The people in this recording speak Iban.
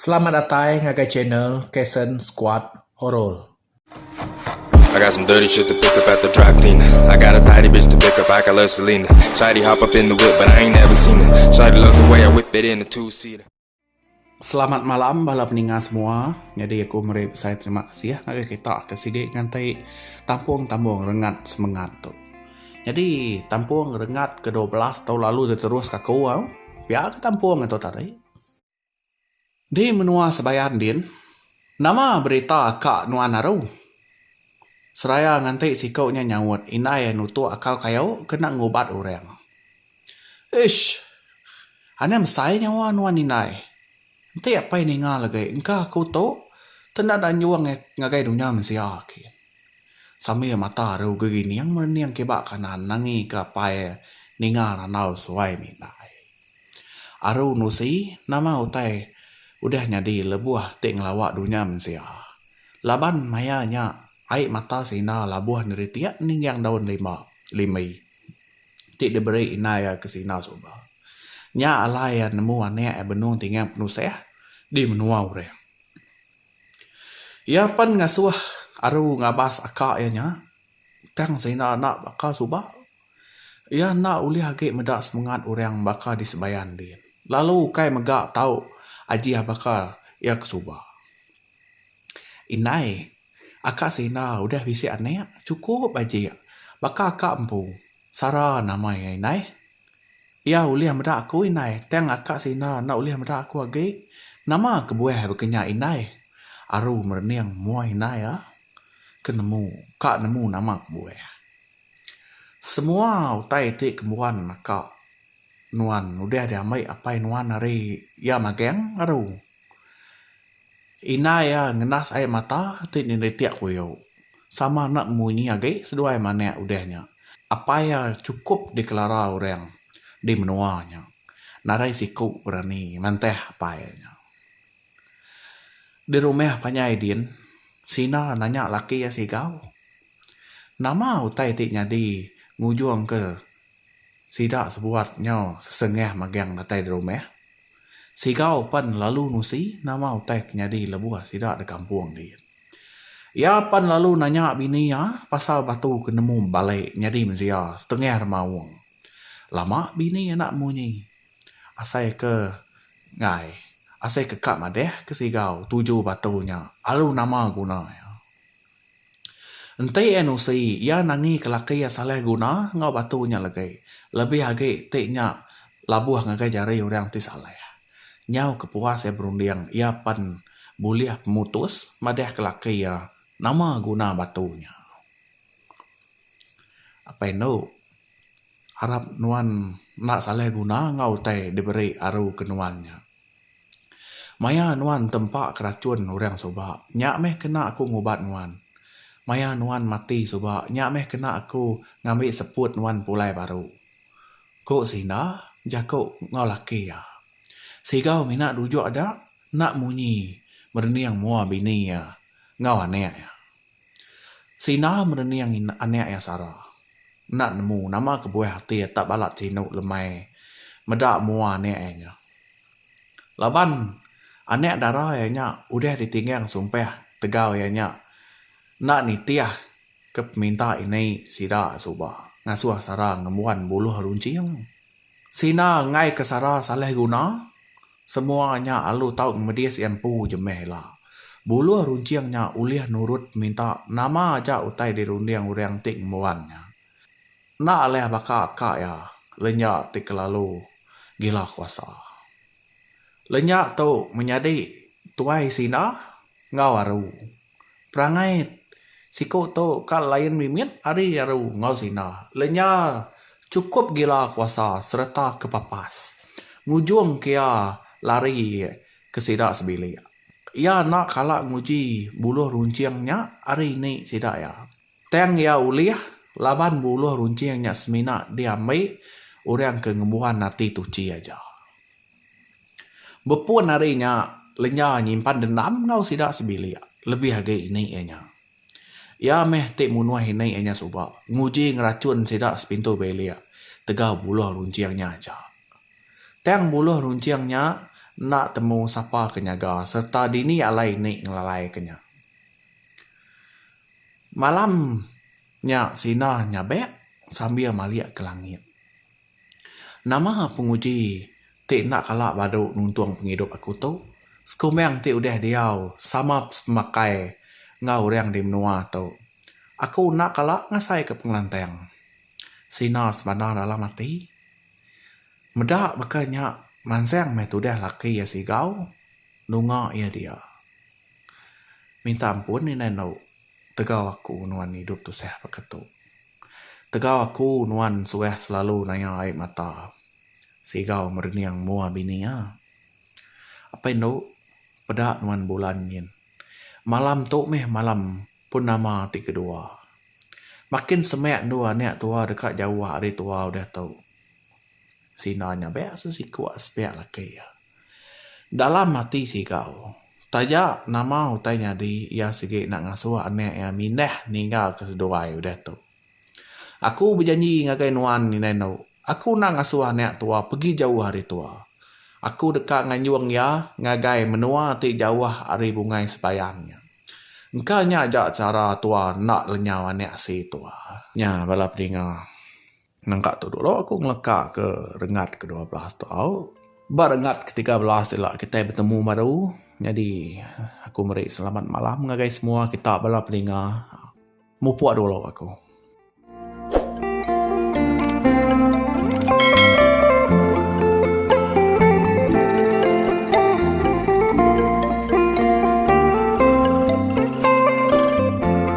Selamat datai ngagai channel Kason Squad Horor. I got some dirty shit to pick up at the dry clean I got a tidy bitch to pick up, I got love Selena Shawty hop up in the whip but I ain't never seen her Shawty love the way I whip it in a two seater Selamat malam bala peninga semua. Nyadi aku meri besai terima kasih ngagai kita ke sigi nganti tampung tambung rengat semengat tu. Nyadi tampung rengat ke dua belas tau lalu ti terus ke aku au. Pia ke tampung atu tadi. Di menua Sebayan din, nama berita ka nuan aru? Seraya nganti siku nya nyaut indai nutuk akau kayu ke enda ngubat orang. Ish! Anang besai nyawa nuan indai. Enti apai ninga legi engka aku tu tenda enda nyuang ngagai dunya mensia agi. Sambil mata aru gegining merening kiba kanan nangi ke apai ninga randau suai mihindai. Aru nusi nama utai udah nyadi lebuh ti ngelawa dunya mensia. Laban maya nya ai mata seinda labuh neritik ningging daun limba, limbi. ti diberi indai iya ke sindau suba. Nya alai iya nemu anak iya benung tingang penusah di menua orang. Iya pan ngasuh aru ngabas aka iya nya tang sindau enda baka suba. Iya enda ulih agi meda semangat orang baka di sembayan din lalu ukai mega tau ajih baka iya ke suba. Indai. Aka Sina udah bisi anak chukup aji baka aka empu Sara nama iya indai. Iya ulih meda aku indai tang aka Sina enda ulih meda aku agi. Nama kebuah baka nya indai. Aru merening mua indai iya ke nemu ka nemu nama kebuah. Semua utai ti kembuan aka nuan udah diambi apai nuan ari iya magang aru. Indai iya ngenas ai mata ti neritik kuyo sama enda munyi agi seduai manik udah nya apai iya cukup dikelara orang di menua nya nadai siku berani mantah apai nya. Di rumah panjai din Sina nanya laki iya siga nama utai ti nyadi ngujung ke Sida sebuat nyau sesengah magang datai derumah. Sigau pan lalu nusi nama utai ke nyadi lebuh sida dekampung di. Iya pan lalu nanya bini iya pasal batu ke nemu bale nyadi mensia setengah remaung. Lama bini enda munyi. Asai ke enggai, asai ke ka madah ke sigau tuju batu nya alu nama guna iya. Enti NOC iya nangi kelaki iya salah guna enggau batu nya legei lebih agi ti nya labuh ngagai jari orang ti salah nyau kepuas iya berunding iya pen bulih pemutus madah kelaki iya nama guna batu nya. Apai enu harap nuan enda salah guna enggau utai diberi aru ke nuan nya. Maya nuan tempa kerachun orang suba, nya meh kena aku ngubat nuan. Maya nuan mati suba, nya meh kena aku ngambi seput nuan pulai baru, ku Sinda jaku enggau laki iya. Sigau mina dujuk aja enda munyi merening mua bini iya enggau anak iya. Sina merening anak iya Sara enda nemu nama kebuah ati iya tak balat sinu lemai meda mua anak iya nya. Laban anak dara iya nya udah ditinggang sumpah tegau iya nya enda nitih ke peminta ini sida suba ngasuh Sara ngembuan buluh runcing. Sina enggai ke sara salih guna, semua nya alu tau ngemedis iya empu je meh ila. Buluh runcing nya ulih nurut minta nama aja utai dirunding orang ti ngembuan nya. Enda alih baka ka iya, lenya ti kelalu gila kuasa. Lenya tu menyadi tuai sina enggau aru. Perangai siku tu ka lain mimit ari aru enggau sina. Lenya chukup gila kuasa sereta ke papas ngujung ke iya lari ke sida sebilik. Iya enda kala nguji buluh runcing nya ari indi sida iya. Tang iya ulih laban buluh runcing nya semina diambi orang ke ngembuan ati tuchi aja. Bepun ari nya, Lenya nyimpan dendam enggau sida sebilik lebih agi ini iya nya. Iya meh ti munuh ini iya nya suba, nguji ngerachun sida sepintu bilik tegau buluh runcing nya aja. Tang buluh runcing nya enda temu sapa ke nyaga sereta dini alai ini ngelalaika nya. Malam nya Sina nyabek sambil malik ke langit. Nama penguji ti enda kala badu nuntung pengidup aku tu? Sekumbang ti udah diau sama pemakai enggau orang di menua tu, aku enda kala ngasaika pengelantang. Sina sebana dalam ati. Meda baka nya mansang meh tudah laki iya sigau nunga iya dia. Minta ampun indai enda tegau aku nuan idup tusah baka tu. Tegau aku nuan suah selalu naya ai mata Sigau merening mua bini ah. Apai endu peda nuan bulan nyin. Malam tu meh malam purnama ti kedua. Makin semak endu anak tua deka jauh ari tua udah tu. Sina nya bek sesiku aspeklaki ah. Dalam ati Sigau. Taja nama utai nyadi iya sigi enda ngasuh anak iya mindah ninggalka seduai udah tu. Aku bejanji ngagai nuan indai endo, aku enda ngasuh anak tua pegi jauh ari tua. Aku deka nganjung iya ngagai menua ti jauh ari bungai sebayang nya. Engka nya aja chara tua enda lenyau anak asi tua. Nya bala pedinga. Nangka tu dulu aku ngeleka ke rengat ke dua belas tu au. Ba rengat ke tiga belas ila kitai betemu baru. Nyadi aku meri selamat malam ngagai semua kita bala peninga. Mupok dulu aku.